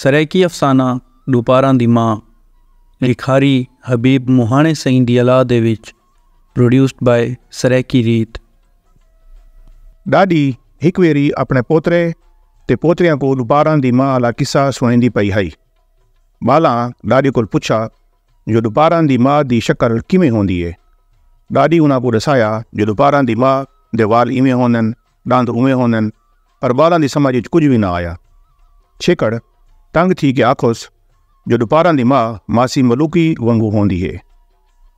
سرائیکی افسانہ ݙوپاراں دی ماء لکھاری حبیب مہاݨے سئیں دی الا دے وچ Produced by سرائیکی ریت۔ ݙاݙی ہک ویری اپݨے پوترے تے پوتریاں کوں ݙوپاراں دی ماء آلا قصہ سݨیندی پئی ہئی۔ ٻالاں ݙاݙی کول پچھا جو ݙوپاراں دی ماء دی شکل کیویں ہوندی اے۔ ݙاݙی انہاں کوں ݙسایا جو ݙوپاراں دی ماء دے وال ایویں ہوندن۔ ݙند اونویں ہوندن پر ٻالاں دی سمجھ اچ کجھ وی نہ آیا۔ چھیکڑ تنگ تھی کے آکھوس جو ݙوپاراں دی ماء ماسی ملوکی ونگوں ہوندی ہے۔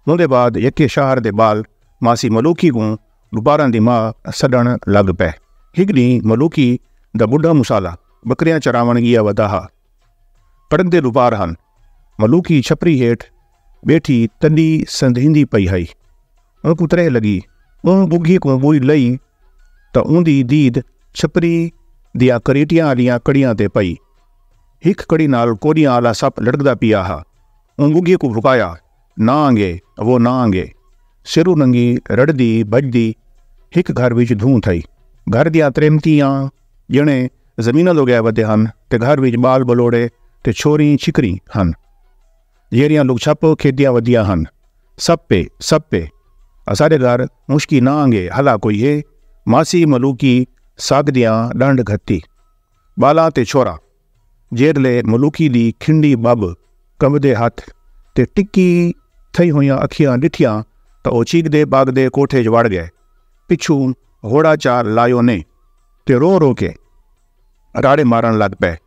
اوندے بعد یکے شاہر دے ٻال ماسی ملوکی کوں ݙوپاراں دی ماء سݙݨ لڳ پئے۔ ہک ݙینہہ ملوکی دا ٻڈھا مصالح ٻکریاں چراوݨ ڳیا ودا ہا۔ کڑکدے ݙوپار ہن۔ ملوکی چھپری ہیٹھ ٻیٹھی تݙی سندھیندی پئی ہئی۔ اونکوں تریہہ لڳی۔ اوں ٻگھی کوں ٻوئی لئی تاں اوندی دید چھپری دیاں کریٹیاں آلیاں کڑیاں تے پئی۔ ہک کڑی نال کوݙیاں آلا سپ لڑکدا پیا ہا۔ اوں ٻگھی کوں بھکایا، نہ آنگے، وہ نہ آنگے۔ سرو ننگی رڑھدی بھڄدی ہک گھر وچ دھوں تھئی۔ گھر دیاں تریمتیاں ڄݨے زمیناں دو ڳئے ودے ہن تے گھر وچ ٻال ٻلوڑے تے چھوریں چھکریں ہن۔ جیرھیاں لک چھپ کھیدیاں ودیاں ہن۔ سپ اے سپ اے۔ اساڈے گھر مشکی نہ آنگے ہلا کوئی ہے۔ ماسی ملوکی سگ دیاں ڈنڈ گھتی۔ بالاں تے چھوراں۔ جیرھلے ملوکی دی کھنڈی بھب کمبدے ہتھ تے ٹکی تھئی ہویاں اکھیاں ڈٹھیاں تاں او چیکدے باگدے کوٹھے اچ وڑ گئے۔ پچھوں گھوڑا چا لایو نے تے رو رو کے راڑے مارن لگ پئے۔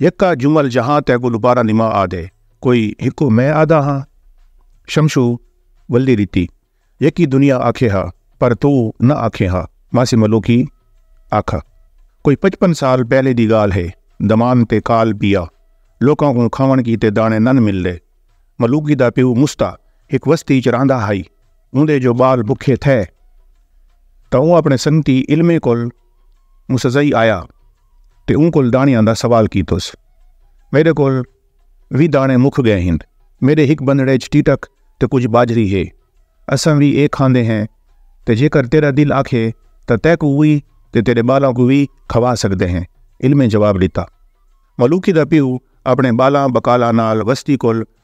یکا جمل جہاں تیکوں دوبارہ نما آدھے کوئی ہکو میں آدھا ہاں شمشو ولدی ریتی یکی دنیا آکھے ہا پر توں نہ آکھیں ہا ماسی ملو کی آکھا کوئی پچپن سال پہلے دی گال ہے دمان تے کال پیا لوکاں کوں کھاون کیتے دانے نن ملدے ملوکی دا پیو مستا ہک وستی اچ رہندا ہائی اوندے جو بال بکھے تھے تاں اوں اپنے سنگتی علمے کول مسزئی آیا تے اوں کول داݨیاں دا سوال کیتس۔ میݙے کول وی داݨے مک ڳئے ہن۔ میݙے ہک بندھڑے اچ ٹیٹک تے کجھ ٻاجھری ہے۔ اساں وی ایہ کھاندے ہیں تے جیکر تیݙا دل آکھے تاں تیکوں وی تے تیݙے ٻالاں کوں وی کھوا سڳدے ہیں۔ علمیں جواب ݙتا۔ ملوکی دا پیو اپݨے ٻالاں ٻکالاں نال وستی کول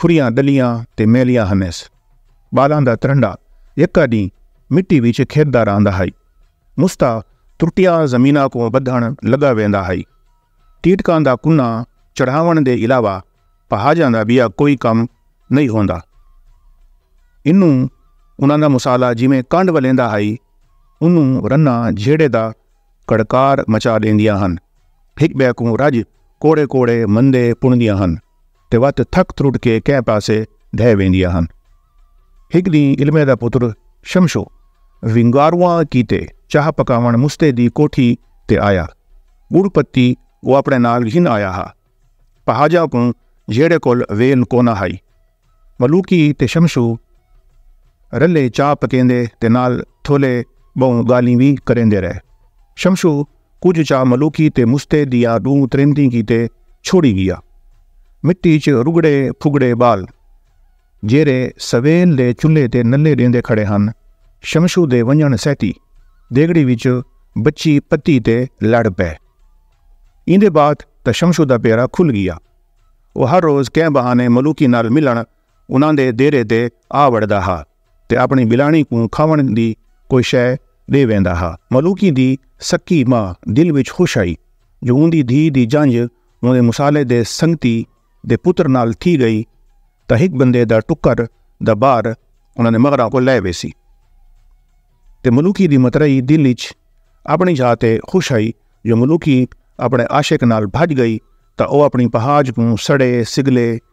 کھریاں ڈلیاں تے میلیاں ہنیس۔ بالاں دا ترنڈا یکا ڈینہہ مٹی وچ کھیڈدا رہندا ہئی۔ مستا ترٹیاں زمیناں کوں بدھن لگا ویندا ہئی۔ ٹیٹکاں دا کناں چڑھاون دے علاوہ پہاجاں دا بیا کوئی کم نئیں ہوندا۔ اینوں انہاں دا مسالہ جیویں کنڈ ولیندا ہئی اونوں رناں جھیڑے دا کڑکار مچا ڈیندیاں ہن۔ ہک بئے کوں رج کوڑے کوڑے مندے پنڑدیاں ہن۔ تے وت تھک ترٹ کے کہیں پاسے ڈھہ ویندیاں ہن۔ ہک ڈینہہ علمے دا پتر شمشو ونگاروواں کیتے چاہ پکاوݨ مستے دی کوٹھی تے آیا۔ گڑ پتی او اپݨے نال گھن آیا ہا۔ پہاجاں کوں جھیڑے کول ویل کونا ہئی۔ ملوکی تے شمشو رلے چاہ پکیندے تے نال تھولے بہوں گالھیں وی کریندے رہے۔ شمشو کجھ چا ملوکی تے مستے دیاں ݙوں تریمتیں کیتے چھوڑی ڳیا۔ مٹی ءچ رڳڑے پھڳڑے ٻال جیرھے سویل دے چلھے تے نلے ݙیندے کھڑے ہن، شمشو دے ونڄݨ سہتی دیڳڑی وچ بچی پتی تے لڑ پئے۔ ایندے بعد تاں شمشو دا پیرا کھل ڳیا۔ او ہر روز کہیں بہانے ملوکی نال ملݨ انہاں دے دیرے تے آ وڑدا ہا تے اپݨی ٻلانڑی کوں کھاوݨ دی کوئی شے ݙے ویندا ہا۔ ملوکی دی سکی ماء دل وچ خوش ہئی جو اوندی دھی دی جنج اوندے مصالحے دے سنگتی دے پتر نال تھی ڳئی تاں ہک بندے دا ٹکر دا بار انہاں دے مغراں کوں لہہ ویسی تے ملوکی دی مترئی دل اچ اپݨی جھا تے خوش ہئی جو ملوکی اپݨے عاشق نال بھڄ ڳئی تاں او اپݨی پہاج کوں سڑے سڳلے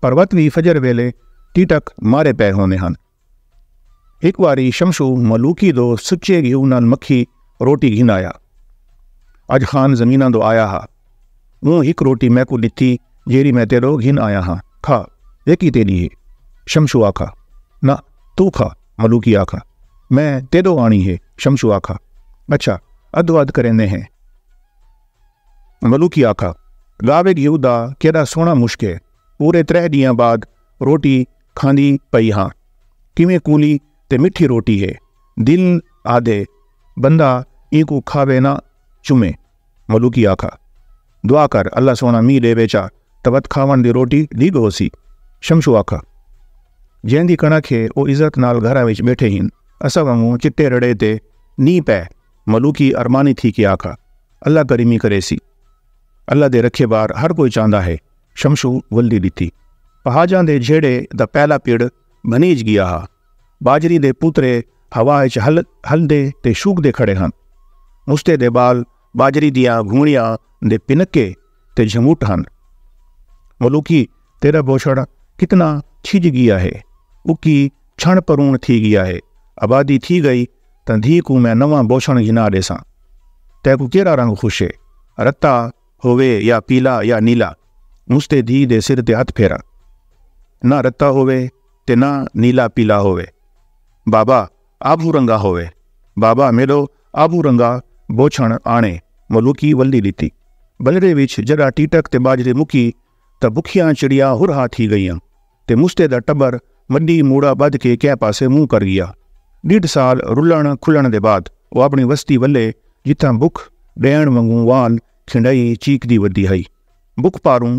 پروت وی فجر ویلے ٹیٹک مارے پئے ہوندے ہن۔ ہک واری شمشو ملوکی دو سچے گھیو نال مکھی روٹی گھن آیا۔ اج خان زمیناں دو آیا ہا۔ اوں ہک روٹی میکوں ڈتی جیرھی میں تیڈو گھن آیا ہاں۔ کھا، ایکی تیڈی ہے۔ شمشو آکھا۔ نہ، توں کھا، ملوکی آکھا۔ میں تیڈو آنڑی ہے۔ شمشو آکھا۔ اچھا، ادھو ادھ کریندے ہیں۔ ملوکی آکھا، گاوے گھیو دا کیݙا سوہݨا مشک ہے، پورے تریہہ ݙینہاں بعد روٹی کھاندی پئی ہاں، کیویں کولی تے مٹھی روٹی ہے، دل آہدے بندہ اینکوں کھاوے نہ چمے۔ ملوکی آکھا، دعا کر اللہ سوہݨا مینہ ݙیوے چا تاں وت کھاوݨ دی روٹی ݙیڳ ہوسی۔ شمشو آکھا، جیندی کݨک ہے او عزت نال گھراں وچ ٻیٹھے ہن، اساں وانگوں چٹے رڑے تے نی پئے۔ ملوکی ارمانی تھی کے آکھا۔ اللہ کریمی کرے سی اللہ دے رکھے بار ہر کوئی چاہندا ہے شمشو ولدی ڈتی پہاجاں دے جھیڑے دا پہلا پیڑ بنیج گیا ہا باجری دے پوترے ہوا اچ ہل ہل دے تے شوک دے کھڑے ہن مستے دے بال باجری دیاں گھوڑیاں دے پنکے تے جھموٹ ہن۔ ملوکی تیڈا بوچھڑ کتنا چھج گیا ہے۔ اکی چھنڑ پرون تھی گیا ہے۔ آبادی تھی گئی تاں دھی کوں میں نواں بوچھنڑ گھنا ڈیساں۔ تیکوں کیرا رنگ خوشے۔ رتا ہووے یا پیلا یا نیلا۔ مستے دھی دے سر تے ہتھ پھیراں۔ نہ رتا ہووے تے نہ نیلا پیلا ہووے۔ بابا! آبھو رنگا ہووے بابا میڈو آبھو رنگا بوچھنڑ آنڑے ملوکی ولڈی ڈتی بنرے وچ جڈا ٹیٹک تے باجری مکی تاں بکھیاں چڑیاں ہرہا تھی گئیاں تے مستے دا ٹبر مڈی موڑا بدھ کے کہہ پاسے منہ کر گیا ڈیڈھ سال رلنڑ کھلنڑ دے بعد او اپنڑی وستی ولے جتھاں بکھ ڈینڑ ونگوں وال کھنڈئی چیکدی ودی ہئی بکھ پاروں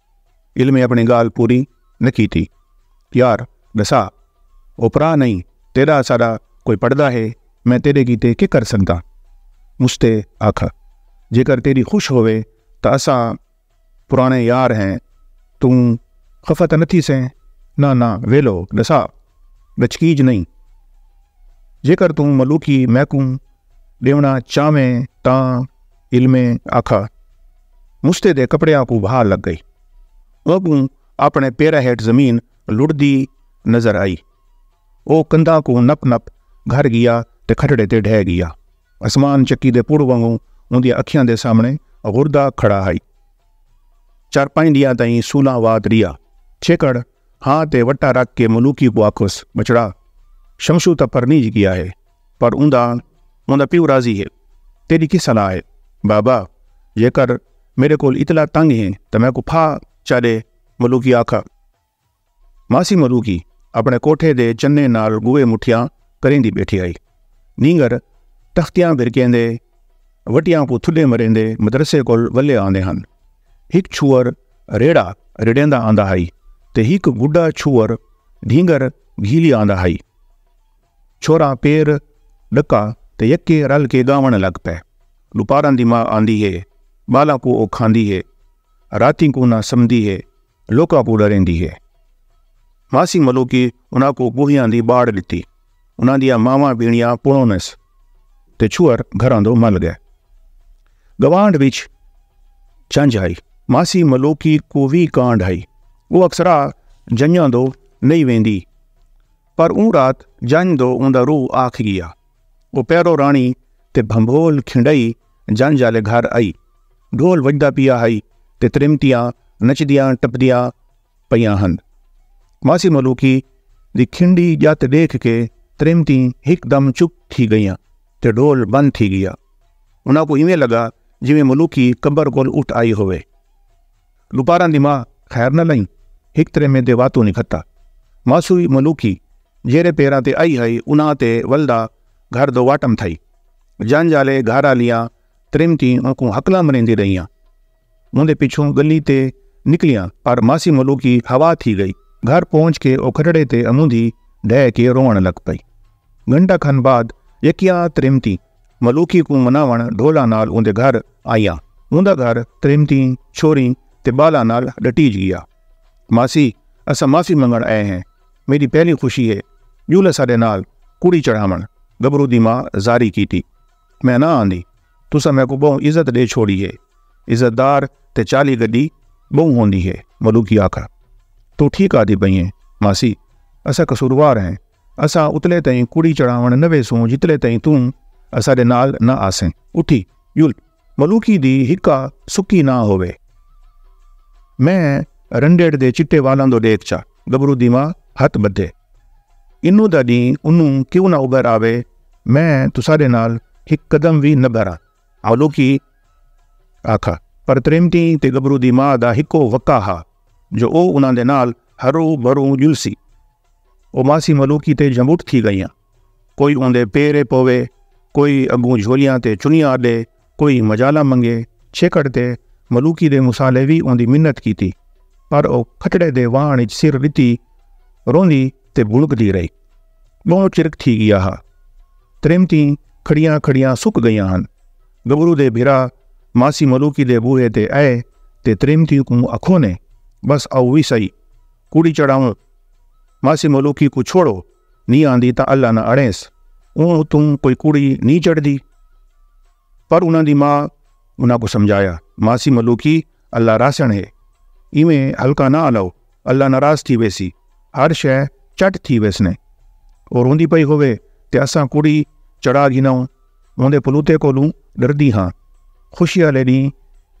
علمیں اپݨی ڳالھ پوری نہ کیتی۔ یار ݙسا او پرا نئیں تیݙا ساݙا کوئی پڑھدا ہے میں تیݙے کیتے کے کر سڳداں۔ مشتے آکھ جیکر تیݙی خوش ہووے تاں اساں پراݨے یار ہیں توں خفا تاں نہ تھیسیں۔ ناں ناں ویلو ݙسا ڳچکیج نئیں جیکر توں ملوکی میکوں ݙیوݨا چاہویں تاں علمے آکھا مستے دے کپڑیاں کو بھا لگ گئی اونکوں اپنے پیرا ہیٹ زمین لڑدی نظر آئی او کندھا کو نپ نپ گھر گیا تے کھٹڑے تے ڈھے گیا اسمان چکی دے پڑ وانگوں اوندی اکھیاں دے سامنے غردہ کھڑا ہائی چار پائیں دیاں تائیں سولاں وات ریا چھیکڑ ہاں تے وٹا رکھ کے ملوکی کو آکھوس بچڑا شمشو تا پرنیج گیا ہے پر اوندا اوندا پیو راضی ہے۔ تیݙی کی صلاح ہے؟ بابا! جیکر میݙے کول اتلا تنگ ہیں تاں میکوں پھا چا ݙے ملوکی آکھا۔ ماسی ملوکی اپݨے کوٹھے دے چنے نال ڳوہے مٹھیاں کریندی ٻیٹھی ہئی۔ نینگر تختیاں بھرکیندے وٹیاں کوں تھݙے مریندے مدرسے کول ولے آندے ہن۔ ہک چھوہر ریڑھا ریڑھیندا آندا ہئی تے ہک ٻڈھا چھوہر ڈھینگر گھیلی آندا ہئی۔ چھوہراں پیر ڈکا تے یکے رل کے گاوݨ لگ پئے۔ ڈوپاراں دی ماء آندی ہے۔ بالاں کوں او کھاندی ہے۔ راتیں کوں نہ سمدی ہے۔ لوکاں کوں ڈریندی ہے۔ ماسی ملوکی انہاں کوں بوہیاں دی باڑ ڈتی۔ انہاں دیاں ماواں بھینڑیاں پڑونس تے چھوہر گھراں دو مل گئے۔ گوانڈ وچ جنج ہئی۔ ماسی ملوکی کوں وی کانڈ ہئی۔ او اکثرا جنجاں دو نئیں ویندی۔ پر اوں رات جنج دو اوندا روح آکھ گیا۔ او پیرو راݨی تے بھنبھول کھنڈئی جنج آلے گھر آئی۔ ڈھول وڄدا پیا ہئی تے تریمتیاں نچدیاں ٹپدیاں پئیاں ہن۔ ماسی ملوکی دی کھنڈی ڄت ݙیکھ کے تریمتیں ہک دم چپ تھی ڳئیاں تے ڈھول بند تھی ڳیا۔ انہاں کوں ایویں لڳا جیویں ملوکی قبر کول اٹھ آئی ہووے۔ لوپاراں دی ماء خیر نہ لئیں ہک تریمے دے واتوں نی کھتا۔ ماسوئی ملوکی جیرھے پیراں تے آئی ہئی انہاں تے ولدا گھر دو واٹم تھئی۔ جنج آلے گھر آلیاں تریمتیں اونکوں ہکلاں مریندی رہیاں۔ اوندے پچھوں گلی تے نکلیاں پر ماسی ملوکی ہوا تھی گئی۔ گھر پہنچ کے او کھٹڑے تے اموندھی ڈھے کے رووݨ لگ پئی۔ گھنٹہ کھن بعد یکیاں تریمتیں۔ ملوکی کوں مناوݨ ڈھولاں نال اوندے گھر آئیاں۔ اوندا گھر تریمتیں، چھوہریں تے ٻالاں نال ݙٹیج ڳیا۔ ماسی اساں معافی منگݨ آئے ہیں۔ میݙی پہلی خوشی ہے ڄول اساݙے نال کڑی چڑھاوݨ، گبرو دی ماء زاری کیتی۔ میں نہ آندی۔ تساں میکوں ٻہوں عزت ݙے چھوڑی ہے۔ عزت دار تے چالی گݙی ٻہوں ہوندی ہے۔ ملوکی آکھا توں ٹھیک آہدی پئیں ہیں ماسی اساں قصوروار ہیں۔ اساں اتلے تئیں کڑی چڑھاوݨ نہ ویسوں جتلے تئیں توں اساݙے نال نہ آسیں۔ اٹھی ڄل ملوکی دی ہکا سکی نہ ہووے۔ میں رنڈیٹ دے چٹے والاں دو ݙیکھ چا گبرو دی ماء ہتھ ٻدھے۔ انوں دا ݙینہ انوں کیوں نہ ابھر آوے میں تساݙے نال ہک قدم وی نہ بھراں۔ ملوکی آکھا پر تریمتی تے گبرو دی ماء دا ہکو وقع ہا جو او انہاں دے نال ہرو بھرو ڄلسی۔ او ماسی ملوکی تے جھمٹ تھی گئیاں کوئی اوندے پیرے پوے کوئی اگوں جھولیاں تے چنیاں آڈے کوئی مجالا منگے چھیکڑ تے ملوکی دے مسالے وی اوندی منت کیتی پر او کھٹڑے دے وان اچ سر ڈتی روندی تے بھڑک دی رہی بہوں چرک تھی گیا ہا تریمتی کھڑیاں کھڑیاں سک گئیاں ہن گبرو دے بھرا ماسی ملوکی دے بوہے تے اے تے تریمتی کوں اکھو نے بس او وی سہی کڑی چڑھاؤں، ماسی ملوکی کوں چھوڑو، نی آندی تاں اللہ نہ اڑینس، اوں اتوں کوئی کڑی نی چڑھدی۔ پر انہاں دی ماء انہاں کوں سمجھایا، ماسی ملوکی اللہ راسنڑ ہے، ایویں ہلکا نہ آلؤ، اللہ ناراض تھی ویسی، ہر شے چٹ تھی ویسنے۔ او روندی پئی ہووے تے اساں کڑی چڑھا گھناؤں، اوندے پلوتے کولوں ڈردی ہاں۔ خوشی آلے ڈینہہ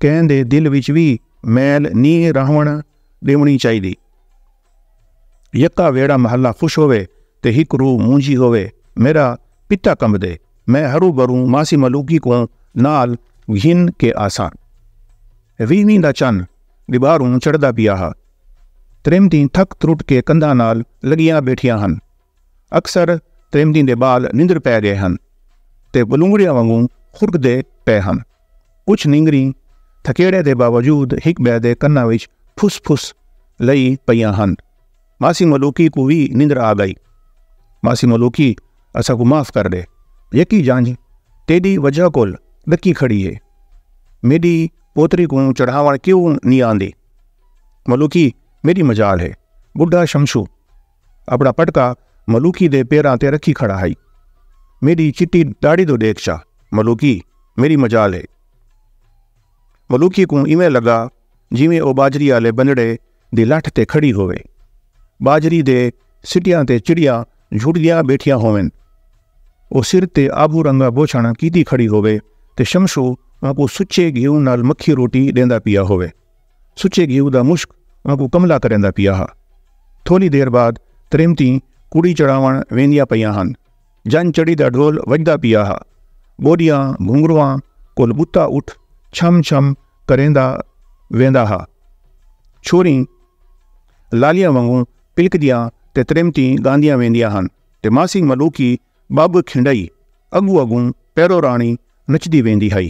کہیں دے دل وچ وی میل نی راہونڑ۔ ڈیونی چاہی دی یکا ویڑا محلہ خوش ہوئے تے ہک روح مونجی ہوئے میرا پتا کمب دے میں ہرو بروں ماسی ملوکی کوں نال گھن کے آساں ویہویں دا چن ڈباروں چڑھدا پیا ہا تریمتیں تھک ترٹ کے کندھاں نال لگیاں بیٹھیاں ہن اکثر تریمتیں دے بال نندر پے گئے ہن تے بلونگڑیاں وانگوں خرک دے پے ہن کجھ نینگریاں تھکیڑے دے باوجود ہک بئے دے کناں وچ پھس پھس لئی پئیاں ہن۔ ماسی ملوکی کوں وی نندر آ گئی۔ ماسی ملوکی اساں کوں معاف کر ڈے۔ یکی جانجھ تیڈی وجہ کول ڈکی کھڑی ہے۔ میڈی پوتری کوں چڑھاون کیوں نی آندی۔ ملوکی میڈی مجال ہے۔ بڈھا شمشو۔ اپݨا پٹکا ملوکی دے پیراں تے رکھی کھڑا ہئی۔ میݙی چٹی ݙاڑھی توں ݙیکھ چا ملوکی میݙی مجال ہے۔ ملوکی کوں ایویں لڳا جیویں او ٻاجھری آلے بنڑے دی لٹھ تے کھڑی ہووے۔ ٻاجھری دے سٹیاں تے چڑیاں جھڑدیاں ٻیٹھیاں ہوون۔ او سر تے آبھو رنگا بوچھݨ کیتی کھڑی ہووے تے شمشو اونکوں سچے گھیو نال مکھی روٹی ݙیندا پیا ہووے۔ سچے گھیو دا مشک آنکوں کملا کریندا پیا ہا۔ تھولی دیر بعد تریمتیں کڑی چڑھاوݨ ویندیاں پیاں ہن۔ جنج چڑھی دا ڈھول وڄدا پیا ہا۔ ٻوݙیاں گھنگھرواں کول ٻتا اٹھ چھم چھم کریندا ویندا ہا۔ چھوریں لالیاں وانگوں پلکدیاں تے تریمتیں ڳاندیاں ویندیاں ہن تے ماسی ملوکی ٻٻ کھنڈئی اڳوں اڳوں پیرو راݨی نچدی ویندی ہئی۔